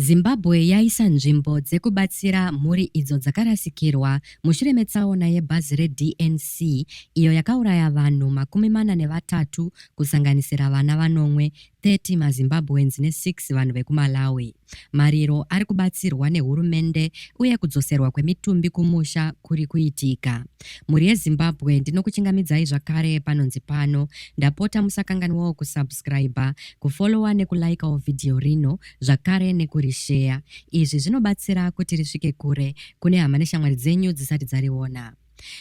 Zimbabwe yaisa nzvimbo dzekubatsira mhuri idzo dzakarasikirwa mushure metsaona yebhazi reDNC iyo yakauraya vanhu makumi mana nevatatu kusanganisira vana vanomwe, 30 maZimbabweans ne6 vanhu vekuMalawi. Mariro ari kubatsirwa nehurumende uye kudzoserwa kwemitumbi kumusha kuri kuitika. Mhuri yeZimbabwe ndinokuchingamidzai zvakare panonzi pano. Ndapota musakanganwawo kusubscriber kufollowa nekulaikawo vhidhiyo rino zvakare nekurisheya. Izvi zvinobatsira kuti risvike kure kune hama neshamwari dzenyu dzisati dzariona.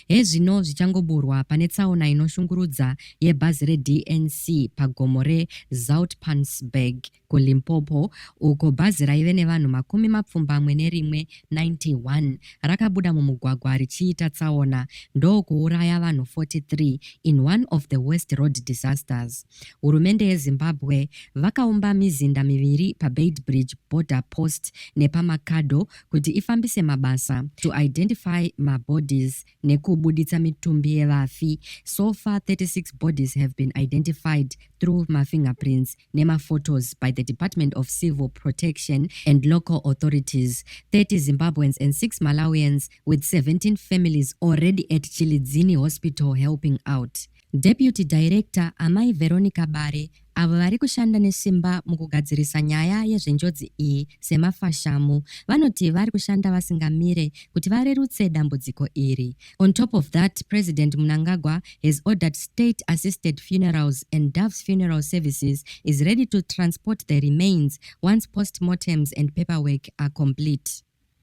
Hezvino zvichangoburwa pane tsaona inoshungurudza yebhazi reDNC pagomo reZoutpansberg kuLimpopo uko bhazi raive nevanhu makumi mapfumbamwe nerimwe 91 rakabuda mumugwagwa richiita tsaona ndokuuraya vanhu 43 in one of the worst road disasters. Hurumende yeZimbabwe vakaumba mizinda miviri paBeitbridge Border Post nepaMakado kuti ifambise mabasa to identify mabodies nekubuditsa mitumbi yevafi. So far 36 bodies have been identified through mafingerprints nemaphotos by the Department of Civil Protection and local authorities. 30 Zimbabweans and 6 Malawians with 17 families already at Chilidzini Hospital helping out. Deputy Director, Amai Veronica Bare, avo vari kushanda nesimba mukugadzirisa nyaya yezvenjodzi iyi semafashamu, vanoti vari kushanda vasingamire kuti varerutse dambudziko iri. On top of that, President Mnangagwa has ordered state assisted funerals and Doves Funeral Services is ready to transport the remains once post-mortems and paperwork are complete.